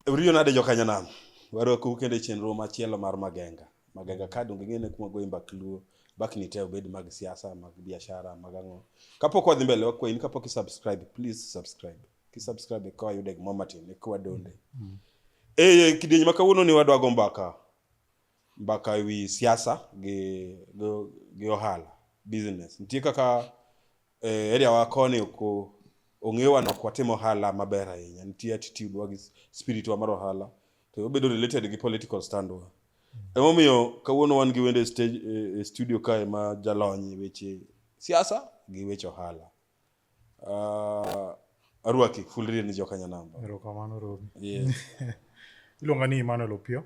Uriyo nade jokanyanam? Warokou kendo e chenro machielo mar Magenga. Magenga ka donge ing'ene kuma goyi mbak luo, bakni te obed mag siasa, mag biashara, mag ang'o. Kapok wadhi mbele wakwayi ni kapok isubscribe, please subscribe. Kisubscribe eka wayude gimoro matin, eka wadonde. Eh, kidieny ma kawuononi wadwa go mbaka. mbaka e wi siasa gi, gi, gi ohala business nitie kaka eh, area wa koni oko ong'ewa nok watimo ohala maber ahinya nitie attitude wa gi spirit wa mar ohala to obedo related gi political stand wa emomiyo kawuono wan gi wende stage, eh, eh, studio kae ma jalony e weche siasa gi weche ohala Uh, arwaki full real ni jokanya namba erokamano robi yes. iluonga ni emmanuel opio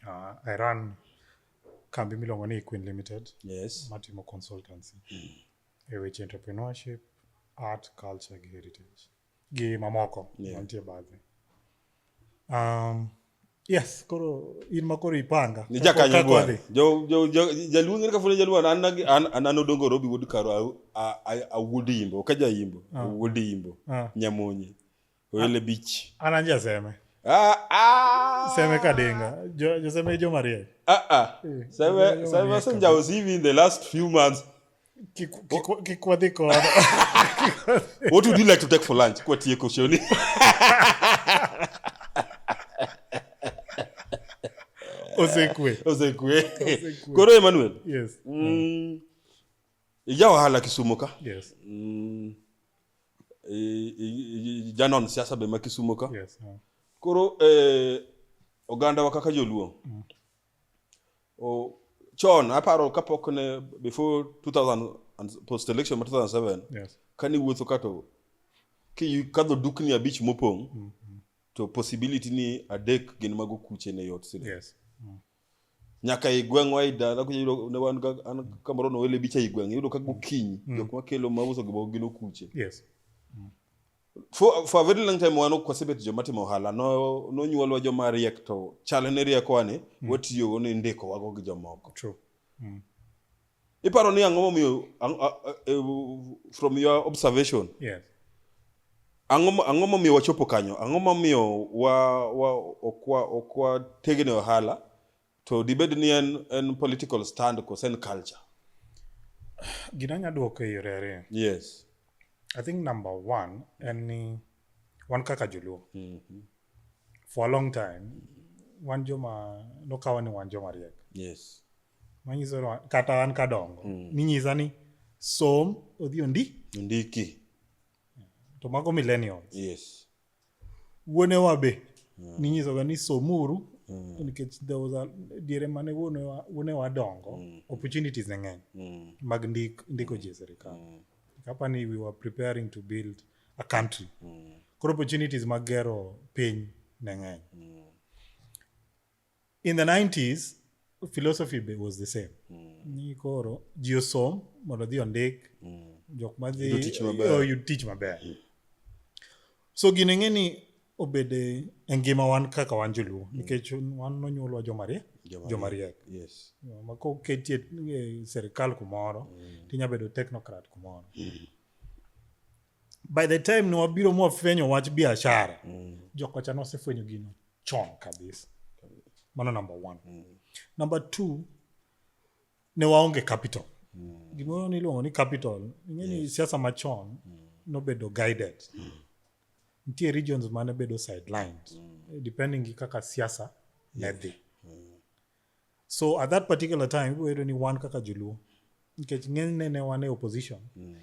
uh, i run kambi miluongo ni queen limited yes. matimo consultancy e weche entrepreneurship art culture gi heritage gi mamoko yeah. mantie badhe um, yes koro in ma koro ipanga ni jakanyo gwar jaluo ng'ere kafune jaluo an an an odongo robi wuod karo awuod imbo ka jaimbo ah. awuod imbo ah. nyamonye oyele bich an an jaseme Ah, ah. Seme Kadenga. Jo, jo Seme Joe Maria. Ah, ah. Eh, Seme, Seme Senja was even in the last few months. kikwadhiko what would you like to take for lunch kwa tie koshoni osekwe osekwe koro emmanuel yes mm. ija wahala kisumo ka yes mm. janon siasa be ma kisumo ka yes koro eh, oganda wa kaka joluo mm. Oh, chon aparo kapok ne before 2000 and post election ma 2007 yes. kani wuotho kato kadho dukni abich mopong' mm -hmm. to possibility ni adek gin mago kuche ne yot sile yes. mm. nyaka i gweng'wa i dala ne wan an kamoro nowele bicha i gweng' iyudo ka gokinyi mm. jok makelo mauso gimoko gin okuche yes. mm. Faveral Langtime wan ok wasebet joma timo ohala no nonyuolwa joma riek to chal ne riekowa ni mm. watiyogo ni ndiko wago gi jomoko. True. Mm. Iparo ni ang'o momiyo e, from your observation. Yes. Ang'o ang'o momiyo wachopo kanyo? Ang'o momiyo wa wa okwa okwa tegene ohala To dibed ni en, en political stand kose en culture? Gina nya duoko e yore ariyo. Yes. I think number one en ni wan kaka joluo. Mm -hmm. For a long time wan joma nokawa ni wan joma riek. Yes. Manyiso kata wan kadongo. Mm. Ninyisa ni som odhi ondi. Ondiki. To mago millennials. Yes. wuonewa be ninyisoga ni somuru nikech there was a diere mane wuonewa wuonewa dongo opportunities ne ng'eny mag ndik, ndiko ji e sirikal kapa ni we were preparing to build a country koro opportunities mag gero piny ne ng'eny in the 90s philosophy be was the same ni koro ji osom mondo odhi ondik jok ma dhi Yudo tich maber. oh, yud tich maber so gini ng'e ni obede e ngima wan kaka wan joluo nikech wan nonyuolwa jomariek Jomariek. jomariek Yes. ma koketi e e serikal kumoro tinya bedo technocrat kumoro by the time ne wabiro mwafwenyo wach biashara jokocha nosefwenyo gino chon kabisa mano number one mm. number two ne waonge capital mm. gimoro niluongo ni capital ing'eni yes. siasa machon mm. nobedo guided mm. nitie regions mane bedo sidelines mm. depending gi kaka siasa yeah. ne dhi mm. so at that particular time ibiro yudo ni wan kaka joluo nikech ng'enyne ne wan e opposition mm.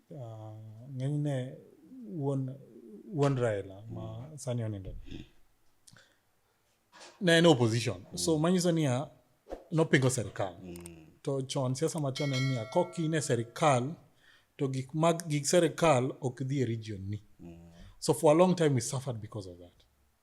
uh, ng'enyne wuon wuon raila ma mm. sani onindo ne en opposition mm. so manyiso niya nopingo serikal mm. to chon siasa machon en niya kok in e serikal to gik mag gik serikal ok dhi e region ni mm. so for a long time we suffered because of that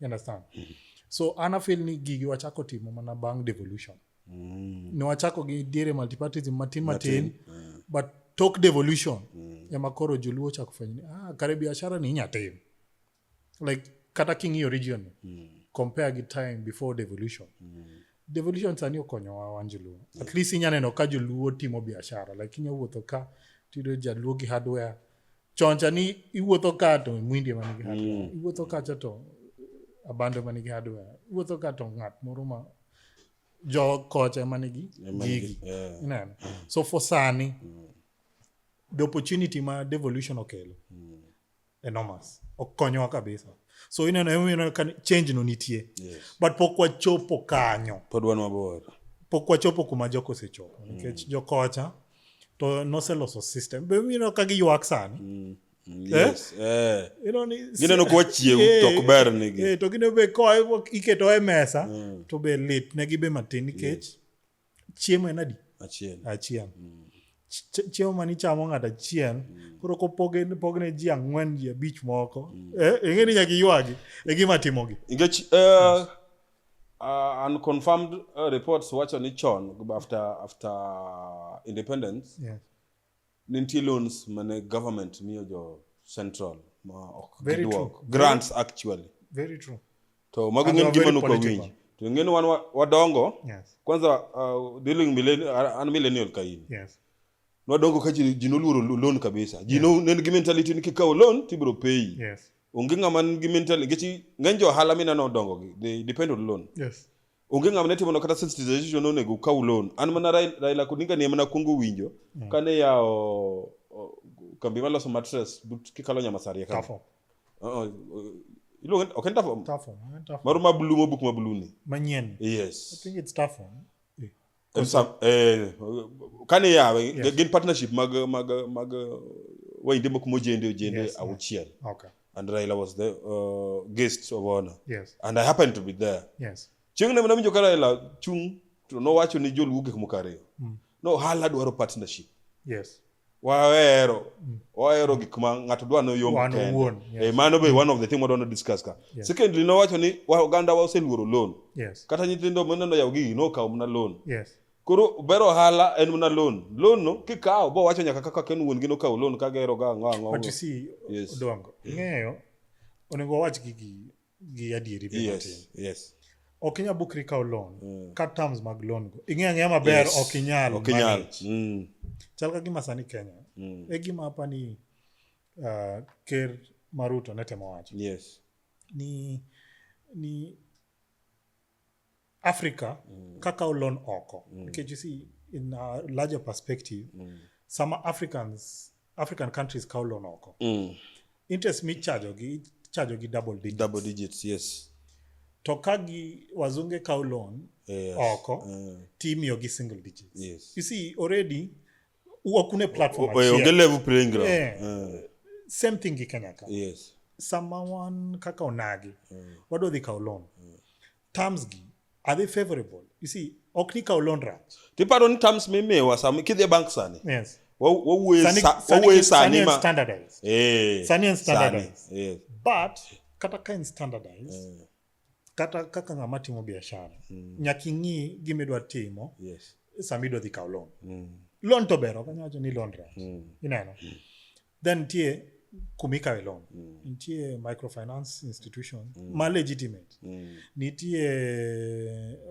You understand so anafil ni gigi wachako timo mana bang devolution mm. ne wachako gi diere multipartism matin matin, matin. but tok devolution mm. ema koro joluo ochako fwenyo ni ah, kare biashara ni inya tim like kata king'iyo region mm. compare gi time before devolution mm. devolution sani okonyowa wan joluo yeah. at least inya neno ka joluo timo biashara like inya wuotho ka tiyudo jaluo gi hardware choncha ni iwuotho ka to mwindi ema nigi hardware mm. iwuotho kacha to abando ema nigi hardware iwuotho ka to ng'at moro ma jo kocha ema nigi gigi ineno so for sani mm. the opportunity ma devolution okelo mm. enormous okonyowa kabisa so ineno emomiyo ka change no nitie yes. but pok wachopo kanyo pod wan mabor pok wachopo kuma jok osechopo nikech mm. jokocha to noseloso system be mino ka giywak sani mm. mm eh? yes. eh? you know, ni, gineno kuwa chiew eh, to ok ber nigi eh, to gine be koa iketo e mesa mm. to be lit negi be matin nikech yes. chiemo en adi achiel achiel mm. chiemo mane ichamo ng'ato achiel mm. koro kopogne ji ang'wen ji abich moko mm. eh, ing'e ni nyaka iywagi e gima timogi nikech uh, Uh, unconfirmed uh, reports wacho ni chon after, after independence yes. nintie loans mane government miyo jo central ma ok giduok grants very, actually very true to mago ng'en gima nuko winji to ng'en wan wadongo yes. kwanza uh, dealing millennial, an millennial kaini yes nwadongo ka ji noluoro loan kabisa ji yeah. no nen gi mentality ni kikawo loan tibiro pay yes. onge ng'ama nigi mental nikech ng'eny jo ohala mineno dongo gi they depend on loan yes onge ng'ama ne timono kata sensitization nonego ukaw loan an mana Raila Odinga ne mana kwongo winjo mm. kane yawo kambi maloso mattress but kikalo Nyamasaria ka Tafo uh-uh. iluongo ok en Tafo Tafo eh, Tafo maro ma blue mobuk ma blue ni manyien yes I think it's Tafo eh. comme ça eh, kane yawe yes. gin partnership mag mag mag way ndimo kuma ojende ojende yes, auchiel okay. and raila was the uh, guest of honor yes. and i happened to be there yes. chieng' ne nawinjo ka raila chung' to nowacho ni joluo gik moko ariyo mm. no hala dwaro partnership yes. wahero wahero gik ma ng'ato dwa no yom Wan kende. owuon, yes. Eh, mano be one of the thing wadwa no discuss ka Yes. secondly nowacho ni wa- oganda wa oseluoro loan yes kata nyithindo maneno yaw gigi nokawo mana loan yes koro ber ohala en mana loan loan no kikawo bo wacho nyaka kaka ken wuon gi nokawo loan ka gero ga ang'o ang'o but you see Yes. odongo ing'eyo onego wawach gigi gi adieri be yes, matin yes. ok inyal bukri kawo loan Mm. ka terms mag loan go ing'e ang'eya maber Yes. ok inyal ok inyal manage. Mm, chal ka gima sani kenya mm, e gima apa ni uh, ker maruto ne temo wacho yes ni ni africa mm. kaka olon oko mm. nikech you see in a larger perspective mm. sama africans african countries kawo loan oko mm. interest michajogi ichajogi double digits. double digits yes to ka gi wazunge kawo loan yes. oko uh. timiyogi single digits yes. you see already wakune platform onge level playing ground yeah. uh. same thing gi kenya ka yes. sama wan kaka onagi mm. wadwa dhi kawo loan mm terms gi are they favorable you see ok ni kaw loan rach tiparo ni terms mimiwa sama kidhi e bank sani yes wawuoye Sani- sa- sani- wawuoye sani sani and ma standardized Eh, Sani and standardized. sani, eh. but kata ka en standardized kata kaka ng'ama timo biashara nyaka ing'i gima idwa timo Yes. sama idwa dhi kaw loan Mm, loan to ber ok anyalo wacho ni loan rach mm. ineno then nitie kuma ikawe loan mm. nitie microfinance institution mm. ma legitimate mm. nitie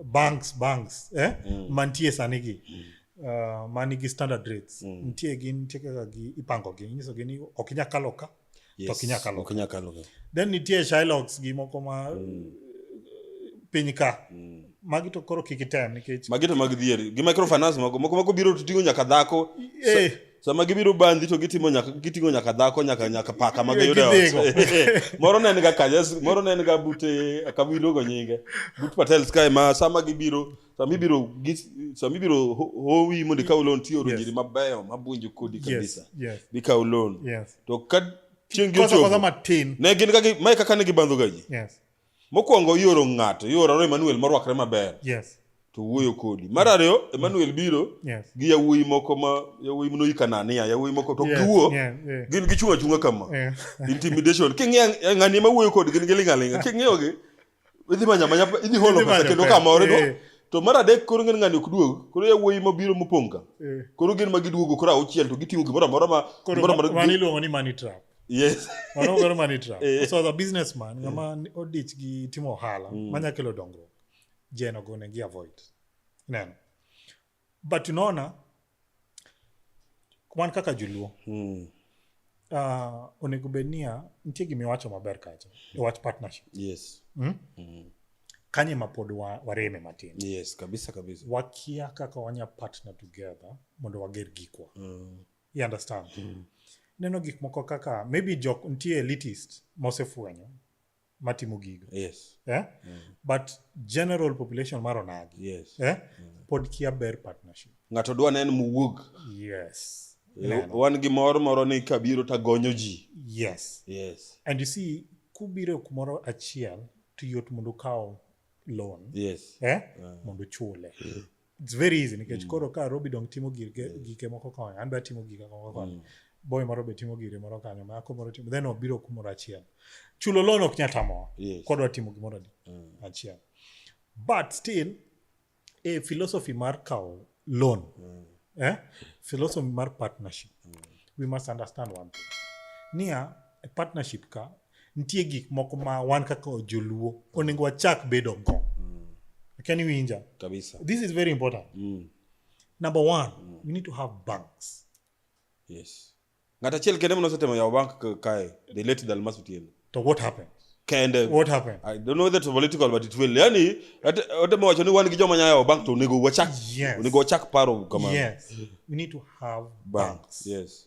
banks banks eh? mm. mantie sani gi mm. Uh, manigi standard rates mm. nitie gi nitie kaka gi ipango gi inyiso gi ni ok inya kalo ka yes. to ok inya kalo ka kalo then nitie shylogs gi moko ma mm. piny ka mm. magi to koro kik item nikech magi to mag dhier gi microfinance moko moko mako biro to tingo nyaka dhako eh. sama gibiro bandi to gitimo nyaka gitingo nyaka dhako nyaka nyaka paka ma giyudo e ot moro ne en ga kanya moro ne en ga bute akabiro go nyinge but patel sky ma sama gibiro sama ibiro sama ibiro howi mondo ikaw loan tioro yes. jiri mabeyo mabunjo kodi kabisa yes. yes. bikaw loan yes. to ka chieng' gi ochopo ne gin kaka mae kaka ne gibandhoga ji yes. Mokwongo ioro ng'ato, ioro Emmanuel morwakre maber. Yes. To wuoyo kodi. Mar ariyo Emmanuel biro yes. gi yawuoyi moko ma yawuoyi mno ikanania, yawuoyi moko to yes. giwuo. Yeah, yeah. Gin gichung' achung'a kama. Yeah. Intimidation. King'e ng'ani ma wuoyo kodi gin giling' aling'a. King'eyo gi idhi manya manya idhi holo pesa kendo kama origo. Yeah. To mar adek koro ng'en ng'ani ok duog. Koro yawuoyi ma biro mopong' ka. Yeah. Koro gin ma giduogo koro auchiel to giting'o gimoro amora ma gimoro amora. Mani iluongo ni money trap. yes mano gero mani trap Eh. so as a businessman ng'ama ni- odich gi timo ohala Mm. manya kelo dongruok jen ogo negi avoid ineno but unaona wan kaka joluo mm. uh, onego bed niya nitie gima iwacho maber kacha e wach partnership yes mm? mm. kanye ma pod wa, wareme matin yes kabisa kabisa wakia kaka wanya partner together mondo wager gikwa mm. you understand mm. neno gik moko kaka maybe jok nitie elitist mosefwenyo matimo gigo yes eh? mm. but general population mar onagi yes eh? mm. pod kia ber partnership ng'ato dwa nen muwuog yes eh, wan gi mor moro ni kabiro tagonyo ji yes yes and you see kubiro kumoro achiel to yot mondo ukaw loan yes eh? yeah. mondo uchule mm. it's very easy nikech mm. koro ka robi dong timo gike, mm. gike moko konyo an be atimo gike moko konyo mm. boy moro be timo gire moro kanyo mako moro timo then obiro kumoro achiel chulo loan ok nyal tamowa yes. kodwa timo gimoro ni mm. achiel but still e philosophy mar kawo loan mm. eh? philosophy mar partnership mm. we must understand one thing niya e partnership ka nitie gik moko ma wan kaka joluo onego wachak bedo go mm. akia ni winja kabisa this is very important mm. number one mm. we need to have banks yes ng'at achiel kende manosetemo yawo bank kae the late dalmas otieno to what happened kende what happened i don't know whether to political but it will yani otemo wacho ni wan gi joma nyayo bank to onego wachak yes. onego wachak paro kama yes we need to have banks, banks. yes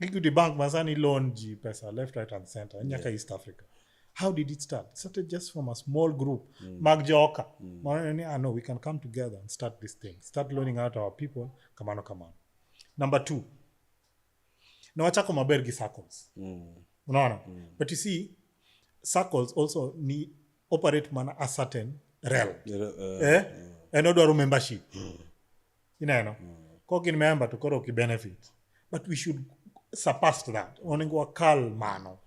equity bank masani loan ji pesa left right and center nyaka east africa how did it start it started just from a small group mm. mag joka mm. Maoneni, ah, no we can come together and start this thing start loaning out our people kamano kamano number two na wachako maber gi circles Mm. unaona mm. but you see circles also ni operate mana a certain realm Yeah, uh, eh? and odwaro membership ineno mm. kok in member to koro ki benefit but we should surpass that onego wakal mano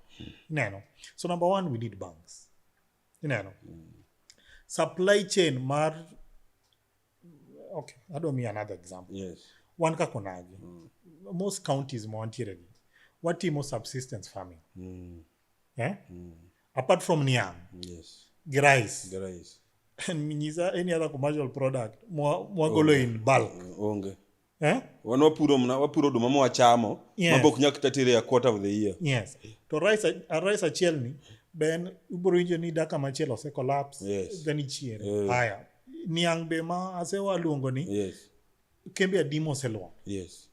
ineno so number one we need banks ineno mm. supply chain mar okay i don't mean another example yes. wan ka konagi mm. most counties ma wantieregi watimo subsistence farming mm. eh? mm. apart from niang yes. grais grais nyisa any other commercial product mwagolo in bulk onge eh? wan wapuro mna wapuro oduma mwachamo yes. mabok nyak kata tere a quarter of the year yes to rice a rice achiel ni ben ibro winjo ni daka machielo ose collapse yes. then ichiere yes. haya niang' be ma asewaluongo ni yes. kembe adim oselwar yes.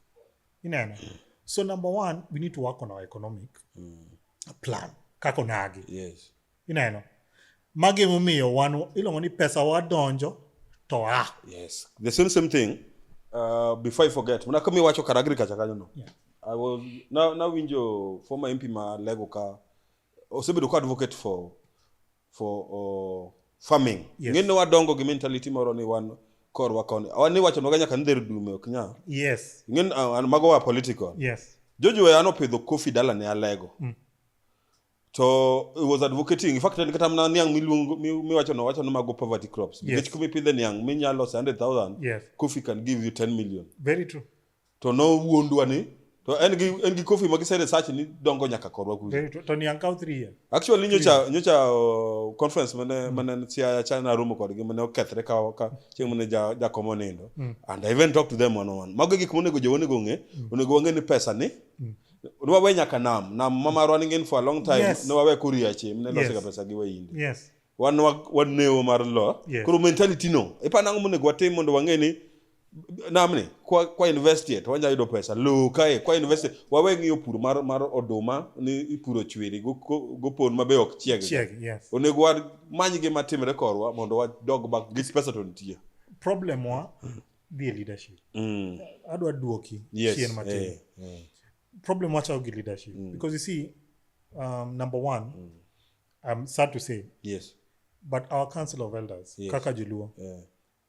ineno so number one we need to work on our economic mm. plan kaka onagi yes. ineno magi emomiyo wan iluongo ni pesa wadonjo to a yes. the same same thing uh, before i forget mana kama iwacho kar agriculture kanyo no yeah. i was nawinjo na former mp ma lego ka osebedo ka advocate for for uh, farming yes. ng'e ni wadongo gi mentality moro ni wan korwa koni ni wachonoga nyaka ni dher dume ok nyal yes. ng'e uh, mago wa political yes. jojo an opidho kofi dala ne alego mm. to it was advocating in fact en kata mana niang' miluongo miwacho no wacho ni mago poverty crops nikech yes. kumipidhe niang' minyalo lose 100000 yes. coffee can give you 10 million very true to no wuondwa ni to en gi en gi coffee ma gise research ni dongo nyaka korwa kuja eh, to, to ni ankaw 3 years actually nyocha nyocha uh, conference mane mm. mane sia china room kod gi mane okethre ka ka chieng mane ja ja komo nindo mm. and i even talk to them one on one mago gik monego jo onego ng'e mm. onego wang'e ni pesa ni mm. Nwawe nyaka nam nam mama running in for a long time yes. nwawe kuria chi mne losega yes. pesa gi wayinde yes wan wan neo mar lo yes. koro mentality no ipa nango monego watim mondo wang'e ni namni kwa, kwa investie to wanyalo yudo pesa lowo kae kwa investie wawe ng'iyo pur mar, mar oduma ni ipuro chwiri gopon ma be ok chieg yes. onego wamany gima timre korwa mondo wadog bak gis pesa to nitie problem wa dhie leadership mm. adwa duoki yes. chien matin eh, eh. problem wachao gi leadership mm. because you see um, number one mm. i'm sad to say yes but our council of elders yes. kaka joluo yeah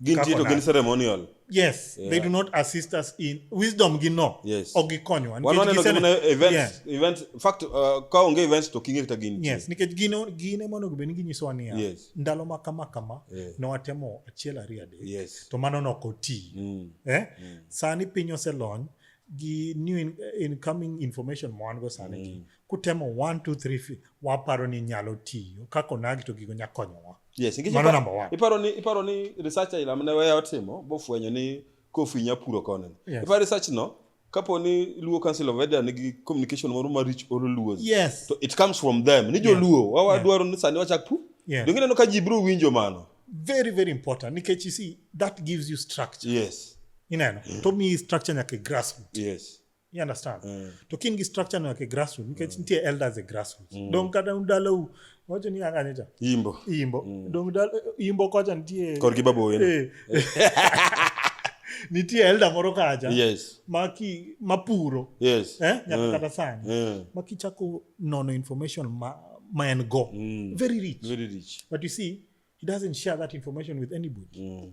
Gin Kaka tiyo to gin odak. ceremonial. yes yeah. they do not assist us in wisdom gi no Yes. ok gikonyowa Wan Nikech waneno gisene- gimana events, Yeah. events, in fact, uh, ka onge events to kinge kata gin tiyo. yes nikech gin gin ema onego bed ni ginyisowa niya Yes. ndalo ma kama kama Yeah. ne watemo achiel ariyo adek Yes. to mano nok oti Mm. eh? sani piny oselony gi new in, incoming information ma wan go sani gi kutemo 1 2 3 fi- waparo ni nyalo tiyo kaka onagi to gigo nya konyowa Yes, nikech mano number one. Iparo ni iparo ni research ila mane weya otimo bofwenyo ni kofi nya puro kone. Yes. Iparo research no kapo ni Luo Council of Elder nigi communication moro ma rich or Luo. Yes. So it comes from them. Ni jo yes. Luo wawa yes. dwaro ni sani wachak pu. Yes. Donge neno ka ji bro winjo mano. Very very important nikech you see that gives you structure. Yes. Ineno. Mm. To mi structure nyaka grassroots. Yes. you understand mm. to kin gi structure no yake grassroot nikech mm. nitie elders e grassroot mm. dong kata dalau wacho ni anga nita imbo imbo mm. dong dal imbo kocha nitie kor gi babo wenu eh. nitie elder moro kacha yes maki mapuro yes eh nyaka mm. kata sani mm. maki chako nono information ma ma en go mm. very rich very rich but you see he doesn't share that information with anybody mm.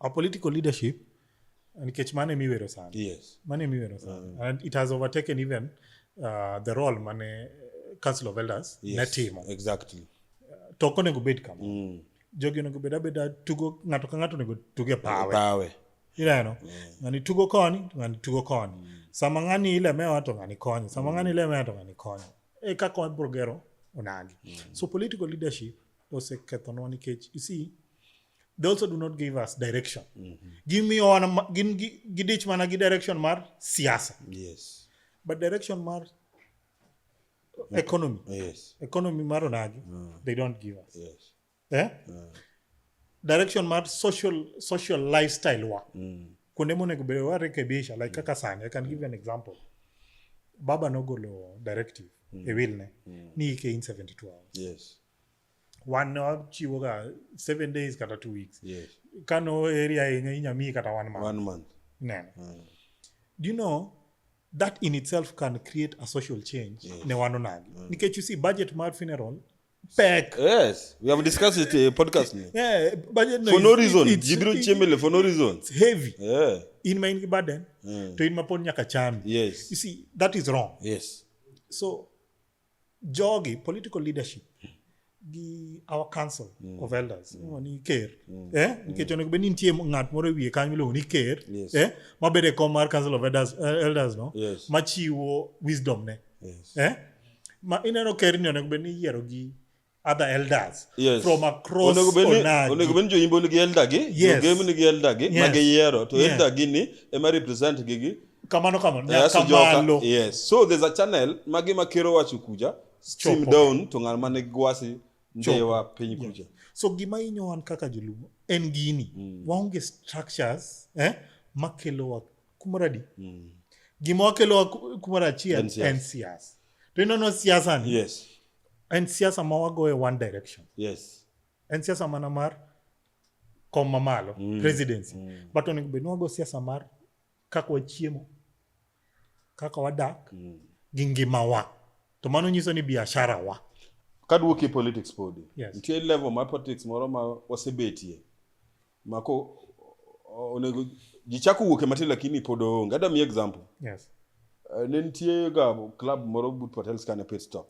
our political leadership nikech mano ema iwero sani yes mano ema iwero sani Mm. and it has overtaken even uh, the role mane eh, council of elders ne yes timo exactly to ok onego bed kama mm. jogi onego bed abeda tugo ng'ato ka ng'ato onego tug e pawe pawe ineno ng'ani tugo koni to ng'ani tugo koni sama ng'ani ilemewa to ng'ani konyo sama ng'ani ilemewa to ng'ani konyo e kaka wabiro gero onagi so political leadership osekethonwa nikech you see they also do not give us direction mm -hmm. gimiyowa gin gidich mana gi direction mar siasa yes. but direction mar economy yes. economy mar onagi mm. they don't give us yes. eh? mm. direction mar social social lifestyle wa mm. kuonde monego bedo warekebisha like mm. kaka sani i can give you an example baba nogolo directive mm. e wilne mm. ni ike in 72 hours yes. wan ne wachiwoga seven days kata two weeks yes. ka no area ahinya inya miyi kata one month, one month. neno mm. do you know that in itself can create a social change yes. ne wanonagi mm. nikech you see budget mar funeral pek yes we have discussed it uh, podcast ni yeah budget no, for no reason it's, jibiro chemele for no reason it's heavy yeah in my burden yeah. to in mapon nyaka chami yes you see that is wrong yes so jogi political leadership gi our council mm. of elders mm. ni ker mm. eh mm. nikech onego bed ni nitie ng'at moro e wiye kanyo miluongo ni ker yes. eh mabede kom mar council of elders, uh, elders no yes. machiwo wisdom ne yes. eh ma ineno ker ni onego bed ni iyiero gi other elders yes. from across onego bed ni joimbo nigi elder gi yes. jogem nigi elder gi yes. ma giyiero to yeah. elder gi ni ema represent gi gi kamano kamano nyaka malo yes so there's a channel ma gima kero wacho kuja stream down to ng'al mane gwasi ndewa piny kuja yeah. so gima hinyo wan kaka joluo en gini mm. waonge structures eh, makelowa kumoro adi mm. gima wakelowa kumoro achiel en siasa to inono siasa ni yes. en siasa ma wago e one direction yes. en siasa mana mar kom mamalo mm. presidency mm. but onego bed ni wago siasa mar kaka wachiemo kaka wadak mm. gi ngimawa to mano nyiso ni biashara wa kaduoki politics podi yes. nitie level mar politics moro ma wasebetie mako o- onego ji chako wuok e matin lakini pod oonge adwa mi example Yes. Eh, ne nitie ga club moro but patel scan a pit stop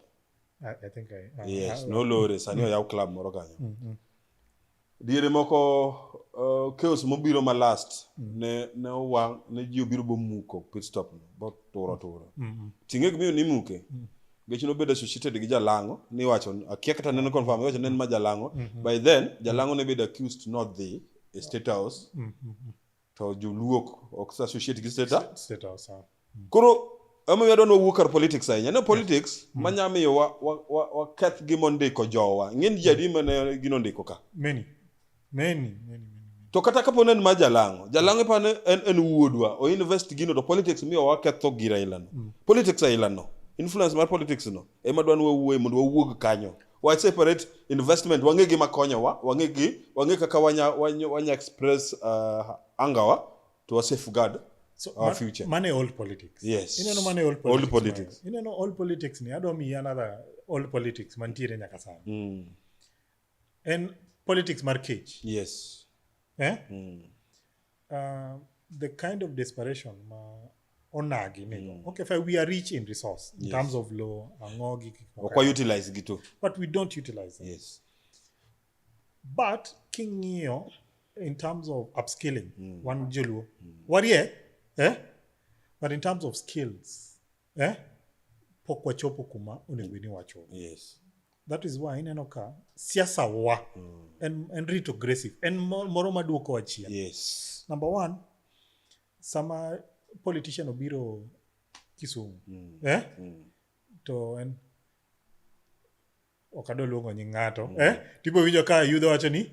I, I think I. I yes I- nolore sani oyaw club moro kanyo Mm, mm. diere moko uh, chaos mobiro ma last ne ne owang ne ji obiro bomuko pit stop no boturo turo Mm, mm. ting'e gimiyo nimuke Gechi nobedo associated gi Jalango niwacho akia kata neno confirm iwacho nen ma Jalango mm -hmm. by then Jalango ne bedo accused not the state house mm -hmm. to joluok ok associate gi state house state house ah. mm. koro ema yadwa ni wawuo kar politics ahinya ne politics yes. Mm. manya miyo waketh wa, wa, wa gimondiko jowa ng'eny ji adi mane ginondiko ka many many, many, many. to kata kapo ne en ma jalang'o jalang'o ipa ne en, en wuodwa o invest gino to politics miyo waketho gir ailano mm. politics ailano influence mar politics no ema dwan wawuoye mondo wawuog kanyo wa separate investment wang'e gima konyowa wang'e gi wang'e kaka wanya, wanya, wanya express uh, angawa to wa safeguard so, our man, future mane old politics yes ineno mane old politics, old politics. ineno old politics ni adwa miyi another old politics mantiere nyaka sani mm. en politics mar kech yes eh? mm. uh, the kind of desperation ma onagi nigo mm. okay fine we are rich in resource in yes. terms of law ang'o gi gik moko. okwa utilize gi to but we don't utilize them yes but king'iyo in terms of upskilling mm. wan joluo mm. warie eh? but in terms of skills eh? pok wachopo kuma onego bed ni wachopo yes that is why ineno ka siasa wa mm. en, en rito aggressive en moro maduoko wachia yes. number one sama politician obiro kisumu mm. eh? mm. to en ok adwa luongo nying ng'ato mm. eh? tipo winjo ka yudhe wacho ni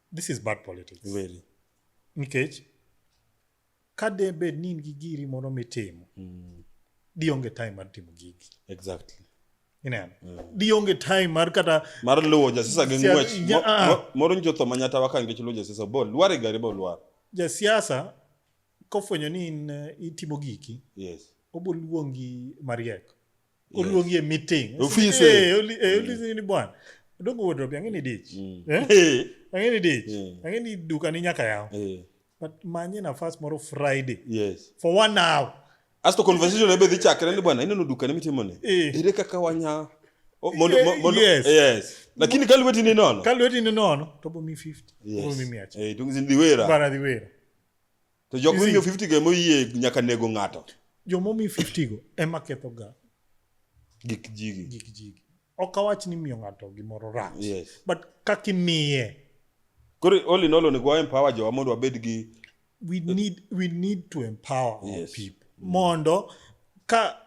this is bad politics very nikech ka de bed ni in gi giri moro mitimo mm. di onge time mar timo gigi exactly ineno mm. di onge time mar kata mar luwo jasisa gi ngwech ah. moro njo tho manyata waka ngech luwo jasisa bo lware gari bo lwar jasiasa kofwenyo ni in eh, itimo giki yes oboluongi mariek oluongi e meeting ofise eh, oli eh, oli mm. ni bwana dongo wardrobe ang'e ni dich mm. eh? eh. ang'e ni dich eh. ang'e ni duka ni nyaka yaw eh. but manye nafas moro friday yes for one hour asto conversation ebe dhi chakre ni bwana ineno duka ni mitimo ni eh. ere kaka wanya oh, mondo, eh, mondo, yes. yes lakini kalweti ni nono kalweti ni nono tobo mi 50 yes. tobo mi 100 eh, tungizi ndiwera bana ndiwera to jok You see- momiyo 50 go emoyie nyaka nego ng'ato joma omi 50 go ema kethoga gik jigi gik jigi ok awach ni miyo ng'ato gimoro rach Yes. but kaka imiye koro all in all onego wa empower jowa mondo wabed gi we need we need to empower our Yes. people mondo ka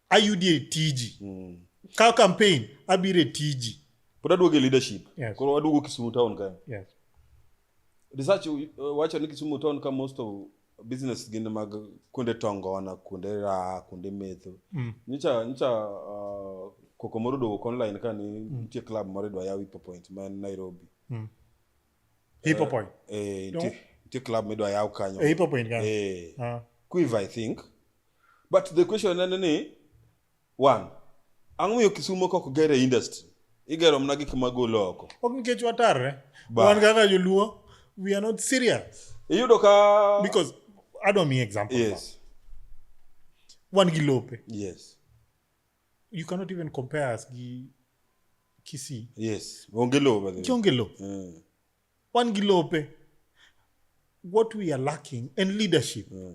ayudi e tiji ka campaign abiro e tiji pod aduogo e leadership Yes. koro aduogo kisumu town kae yes Research uh, wacho ni Kisumu town ka most of business gin mag kuonde tongona, kuonde raha, kuonde metho. Mm. Nyicha nyicha uh, koko moro dowuok online ka ni mm. nitie club moro idwa yaw Hippo Point ma en Nairobi. Mm. Hippo eh, Point. Eh, nitie nitie club midwa yaw kanyo. Eh, Hippo Point kanyo. Eh. Uh. Quiver I think. But the question nene ni One, ang' miyo Kisumo kok ger e industry. Igero mna gik ma golo oko. Ok nikech watarre. Ba. Wan kaka joluo, we are not serious. Iyudo ka... Because, adwa miyi example. Yes. Wan gi lope. Yes. You cannot even compare us gi Kisii. Yes. Onge lope. Kionge lope. Mm. Wan gi lope. What we are lacking in leadership. Mm.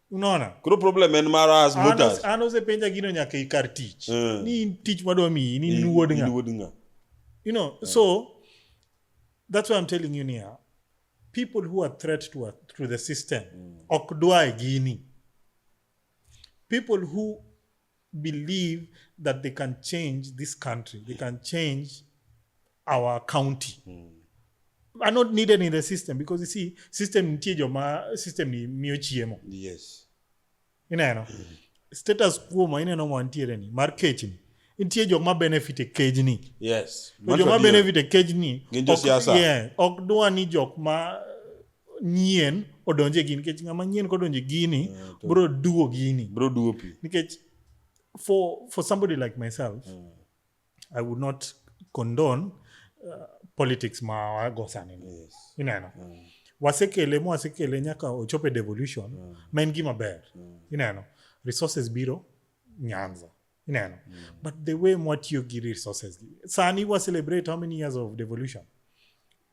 unaona koro problem en mara as mutas an osepenja gino nyaka ikar tich mm. ni in tich madwa miyi ni in wuod nga you know mm. so that's why i'm telling you nia people who are threat to, to the system mm. ok dwa e gini people who believe that they can change this country, they can change our county. Mm. Are not needed in the system because you see, system nitie joma system ni miyo chiemo. Yes. Ineno. Mm. Status quo ma ineno ma nitiere ni mar kechni. Nitie joma benefit e kejni. Yes. To joma benefit e kejni. Gin josiasa. Yeah, ok dwa ni jok ma nyien odonje gini nikech ng'ama nyien kodonje gini yeah, bro duo gini bro duo pi nikech for for somebody like myself yeah. i would not condone uh, politics ma wagosani yes. ineno yeah. wasekele mo wasekele nyaka ochopo e devolution yeah. ma en gima ber yeah. ineno resources biro nyanza ineno mm. but the way mwatiyo gi resources sani wa celebrate how many years of devolution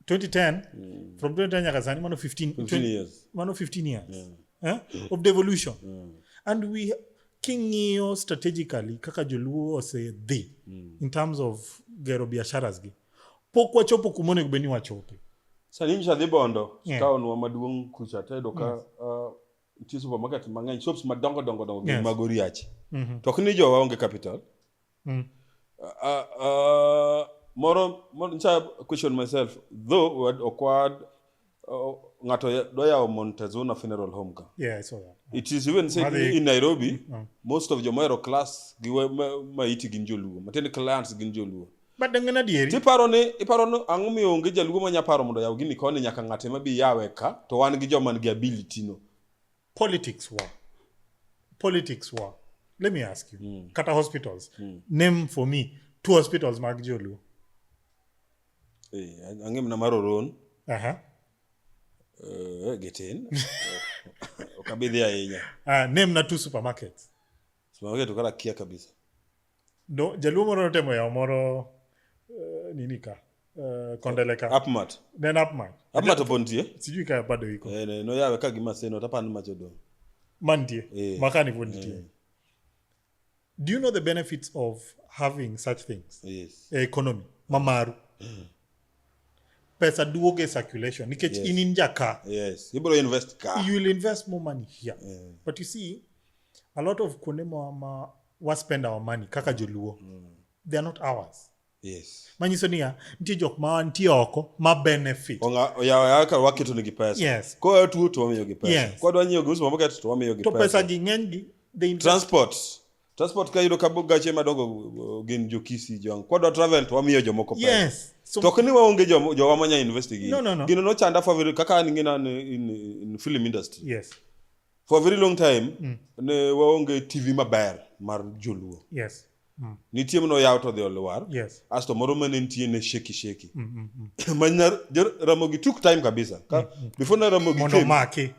2010 mm. from 2010 nyaka sani mano 15, 15 years, mano 15 years. Yeah. Eh? Yeah. of devolution yeah. and we king'iyo strategically kaka joluo osedhi mm. in terms of gero biasharas gi pok wachopo kuma onego bed ni wachope sani nyisadhi bondo yeah. taonwa maduong' kucha tayudo ka yeah. uh, nitie supermarket mang'eny shops madongo dongo dongo gin Yes. mag oriachi Mhm. to ok ni jowa onge capital Mm. Ah, ah, moro moro nsa question myself though wad- ok wad oh, ng'ato ya- dwa yawo montezuna funeral home ka Yeah, I saw that. it is even said Madhi- in nairobi Mm. most of jomahero class gi we- ma- maiti gin joluo matiende clients gin joluo But dengan adieri. Tiparo ni iparo ni ang'o miyo onge jaluo ma nyaparo mondo yaw gini koni nyaka ng'ate ma bi yawe ka to wan gi joma nigi ability no. Politics wa. Politics wa. Let me ask you. Mm. Kata hospitals. Mm. Name for me two hospitals mag joluo. Eh, ang'e mna mar Oron. Aha. Uh -huh. Uh, eh, Getin. Okabidhi ahinya. Ah, name na two supermarkets. Sema wewe tukala kia kabisa. No, jaluo moro notemo yawo moro eh, nini ka eh, kondele ka Upmat. ne en upman Upmat opontie. sijui ka bado iko Eh ne no yawe ka gima seno tapan macho do. mantie Eh. makani pod nitie Eh. do you know the benefits of having such things Yes. e economy mamaru pesa duoge circulation nikech yes. in inja ka yes. ibro invest ka you will invest more money here yeah. but you see a lot of kuonde ma, ma wa spend our money kaka joluo mm. they are not ours yes. manyiso niya nitie jok ma nitie oko ma benefit waketo nigi pesa yes. koa tuo to wamiyogi pesa yes. kwadwa nyiewo gi uso maboket to wamiyogi to pesa gi ng'enygi transport Transport ka yudo ka gache madongo uh, gin jo Kisii jo Kwa dwa travel to wamiyo jomoko pesa. Yes. So, to kini waonge jo jo wamanya invest gi. No, no, no. Gino no chanda for very kaka an ngina in, in film industry. Yes. For a very long time mm. ne waonge TV maber mar joluo. Yes. Mm. Nitie mno yaw to dhi olwar. Yes. Asto moro mane nitie ne sheki sheki. Mm, mm, mm. Manyar Ramogi took time kabisa. Ka, mm, mm. Before na Ramogi came. Mondo maki.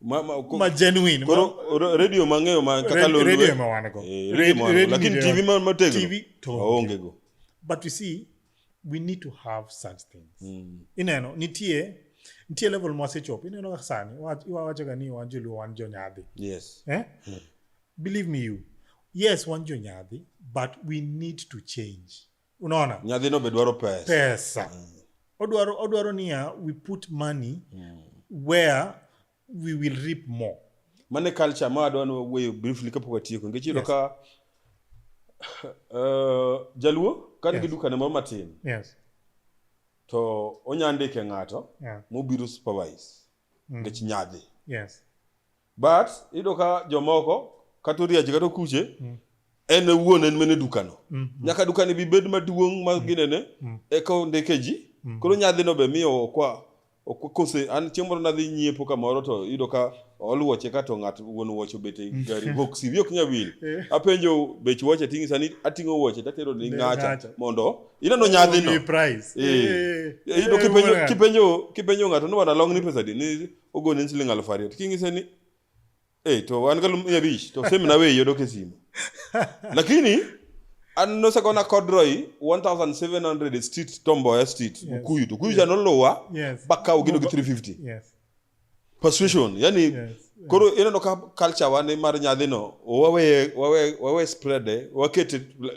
ma, ma, ko, ma genuine koro ma, radio mang'eyo ma kaka radio, radio eh? ma wan go eh, radio ma wan lakini tv ma mategno tv to onge go but you see we need to have such things mm. ineno nitie nitie level ma wasechopo ineno kaka sani iwawachoga ni wan joluo wan jonyadhi yes eh? mm. believe me you yes wan jonyadhi but we need to change unaona nyadhino be dwaro pesa pesa mm. odwaro odwaro niya we put money mm. where we will reap more mane culture ma adwa no weyo briefly kapok watieko nikech iyudo yes. ka uh, jaluo ka nigi yes. dukane moro matin yes. to onya ndike ng'ato yeah. mobiro supervise mm. nikech mm. nyadhi yes. but iyudo ka jomoko kata oriachi kata okuche mm. en wuon en mene dukano mm, mm. nyaka dukani bi bed maduong' ma mm. ginene mm. eka ondike ji mm. koro nyadhino be miyo okwa kose an chieng' moro nadhi nyiepo kamoro to iyudo ka ol wuoche ka to ng'at wuon wuoche obet e gari boksi wi ok nya wil eh. apenjo bech wuoche ting'i sani ating'o wuoche tatero ni ng'acha mondo ineno nyadhino eh. Eh. iyudo kipenjo ng'ato ni wana long ni pesa di ni ogonin siling aluf ariyo to kinyise ni hey, to wan galu mia abich to same na weyi odok e simu lakini an nosegona kodroy 1700 street tomboya street yes. mukuyu to kuyu yes. janolowa yes. bakawo gino gi 350 yes. persuasion yani yes. koro yes. ineno ka culture wan mar nyadhino waweye wawe, wawe spreade wakete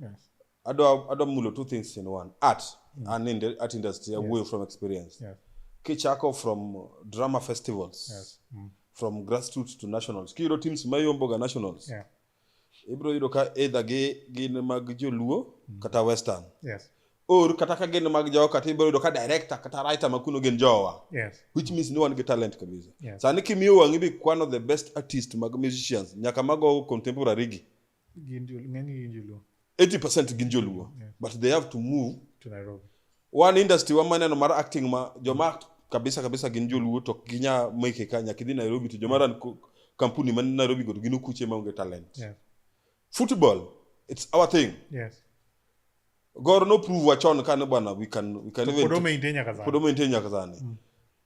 Yes. Adwa adwa mulo two things in one. Art mm. and in the art industry yes. away from experience. Yes. Kichako from drama festivals. Yes. Mm. From grassroots to nationals. Kiyudo teams mayomboga nationals. Yeah. Ibro yudo ka either gi gin mag joluo mm. kata western. Yes. Or kata ka gin mag jowa kata ibro yudo ka director kata writer makuno gin jowa. Yes. Which means ni wan gi talent kabisa. Yes. Sani kimiyo wang'i bi kwano the best artist mag musicians nyaka mago contemporary gi. 80 percent gin joluo yeah. but they have to move to Nairobi. wan industry wa maneno mar acting ma joma kabisa kabisa gin joluo to ginya meke ka nyaka idhi Nairobi to joma ran kampuni man Nairobi go gin okuche maonge talent yeah. football it's our thing yes. Gor no prove wachon kane bwana we can we can even Podo maintain nyaka sani. Podo maintain nyaka sani. Mm.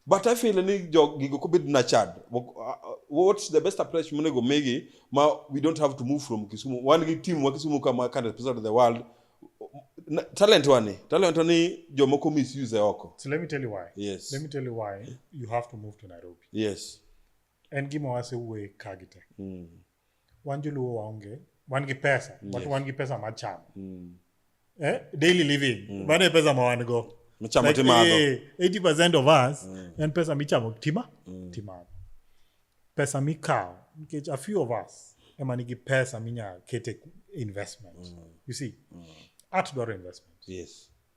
But I feel ni jog gigo kobed na chad. Uh, uh, what's the best approach mune go megi ma we don't have to move from Kisumu. One gi team wa Kisumu kama can represent the world. Na, talent wani. Talent wani jomoko misuse oko. So let me tell you why. Yes. Let me tell you why you have to move to Nairobi. Yes. En gima wase wuoye kagite. Mm. wan joluo waonge wan gi pesa yes. but wan gi pesa machamo mm. eh? daily living mm. mano e pesa ma wan go michamo like, timadho eh, 80 percent of us mm. en pesa michamo tima mm. timadho pesa mikawo nikech a few of us ema nigi pesa minya kete investment mm. you see mm. art dwaro investment yes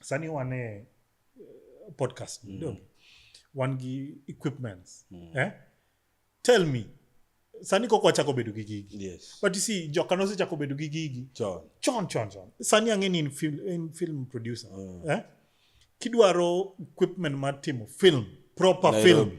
sani wan e eh, podcast mm. donge wan gi equipments mm. eh? tell me sani kok wachako bedo gi gigi yes. but you see joka nosechako bedo gi gigi chon chon chon chon sani ang'e ni in film, in film producer mm. eh? kidwaro equipment mar timo film proper Nairobi. film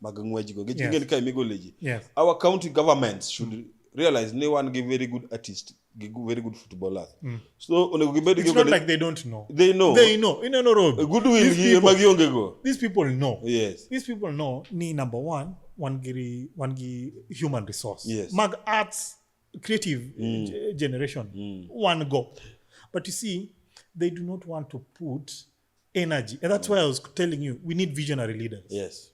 mag ng'wejgo gi yes. ka imigole ji yes. our county governments should mm. realize ni wan gi very good artist gi very good footballers mm. so onego gibed it's not like they don't know they know they know in no road good will gi ma gionge go these people know yes these people know ni number 1 wan gi wan gi human resource yes. mag arts creative mm. generation mm. one go but you see they do not want to put energy and that's why i was telling you we need visionary leaders yes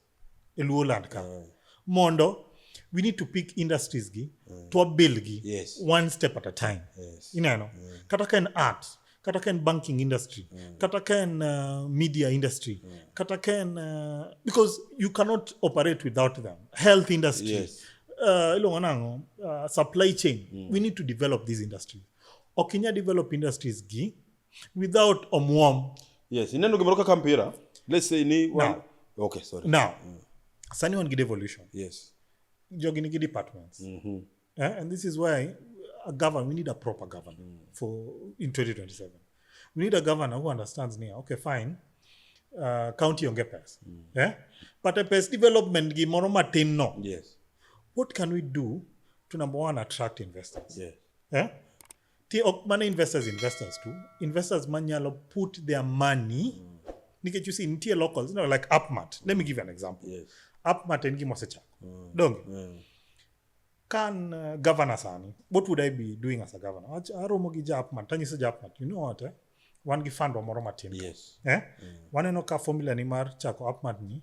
e luo land ka mondo we need to pick industries gi to wabil gi Yes. one step at a time Yes. ineno kata ka en art kata ka en banking industry kata ka en uh, media industry kata ka en uh, because you cannot operate without them health industry Yes. uh, iluongo nango uh, supply chain we need to develop these industries ok inya develop industries gi without omwom yes ineno gimoro kaka mpira let's say ni now, okay sorry now mm. sani wan gi devolution yes jogi nigi departments mm -hmm. uh, and this is why a governor we need a proper governor mm. for in 2027 we need a governor who understands ni okay fine uh, county onge pes mm. yeah? Eh? but a pes development gi moro matin no yes what can we do to number one attract investors yes. yeah? Eh? Ti ok mana investors investors too. Investors manyalo put their money mm. nikech you see nitie locals you know, like Upmart. Let me give you an example. Yes. Upmart en gima osechako. Mm. Donge? Mm. Kan uh, governor sani, what would I be doing as a governor? Aromo gi ja Upmart, tanyiso ja Upmart, you know what? Eh? Wan gi fund wa moro matin. Yes. Eh? Mm. Waneno ka formula ni mar chako Upmart ni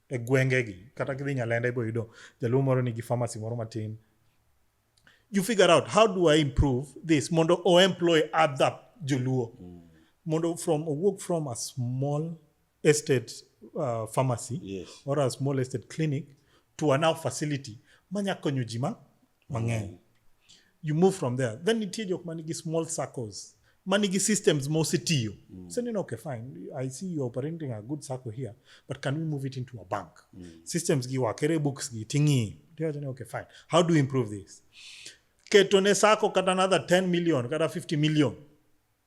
e gwengegi kata kidhi nyalenda ibo yudo jaluo moro nigi pharmacy moro matin you figure out how do i improve this mondo o employ other joluo mm. mondo from owuok from a small estate uh, pharmacy yes. or a small estate clinic to a now facility manya konyo ji ma mang'eny you move from there then nitie jok ma nigi small circles ma nigi systems ma osetiyo mm. so neno okay fine i see you operating a good circle here but can we move it into a bank mm. systems gi wakere books gi ting'i okay fine how do we improve this ketone sako kata another 10 million kata 50 million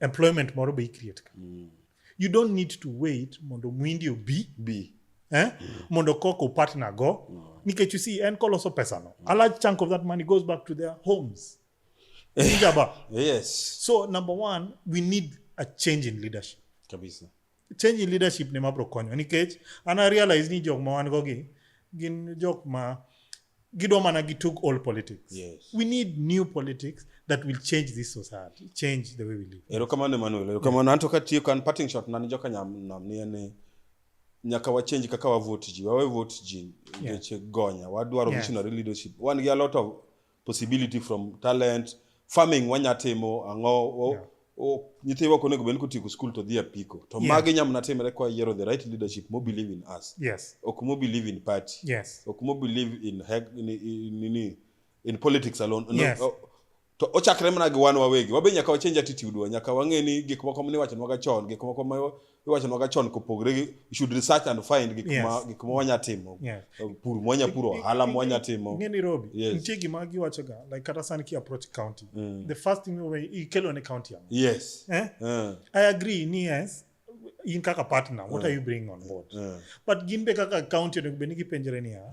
employment moro be icreate ka mm. you don't need to wait mondo mwindi obi bi eh? mm. mondo kok upatna go mm. nikech you see en koloso pesano mm. a large chunk of that money goes back to their homes Ijaba. yes so number one we need a change in leadership kabisa change in leadership ne mabro konyo nikech an I realize ni jok ma wan go gi gin jok ma gidwa mana gi took all politics Yes. we need new politics that will change this society change the way we live erokamano emanuel erokamano anto katiyo kan parting shot nani joka nyam nam ni en ni nyaka wachenji kaka wavot ji wawe vot ji ngeche gonya wadwaro Yes. visionary leadership wan gi a lot of possibility from talent farming wanya timo ang'o yeah. nyithiwa ok onego bed kotieko skul to dhi apiko to yeah. magi nyamna timre kwa yiero the right leadership mo believe in us yes. ok mo believe in party yes. ok mo believe in, in, in, in, in politics alone yes. no, to ochakre mana gi wan wawegi wabe nyaka wachenj attitude wa nyaka wang'e ni gik moko mniwachonwaga chon gik moko iwacho noga chon kopogre gi should research and find gik yes. ma gik ma wanya timo yes. pur mwanya puro hala mwanya timo ngeni robi yes. nitie gima giwacho ga like kata sani ki approach county mm. the first thing we ikelo ne county yangu yes eh? uh. i agree ni yes in kaka partner what uh. are you bringing on board uh. but gin be kaka county onego bed ni gipenjore niya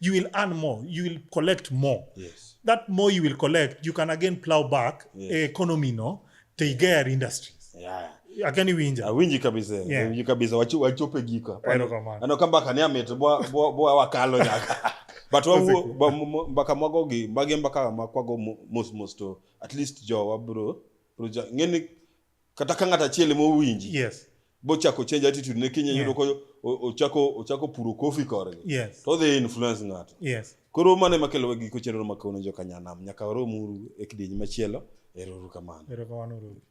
you will earn more you will collect more yes. that more you will collect you can again plow back yes. Eh, economy no to yeah. industries yeah akani winja awinji kabisa yeah. winji kabisa wachu wachope gika ano kamba kani amete bwa bwa bwa wakalo nyaka but wa mbaka mago gi mbage mbaka makwago mos mos to at least jo wa bro bro ja ngeni kata ka ng'ato achiel ema owinji yes bochako change attitude ne kinye yudo ko ochako ochako puro kofi korgi yes to they influence ng'ato yes koro mane makelo wa giko chenro ma kawuono joka nyanam nyaka waromuru e kidieny machielo erouru kamano erokamano ruoth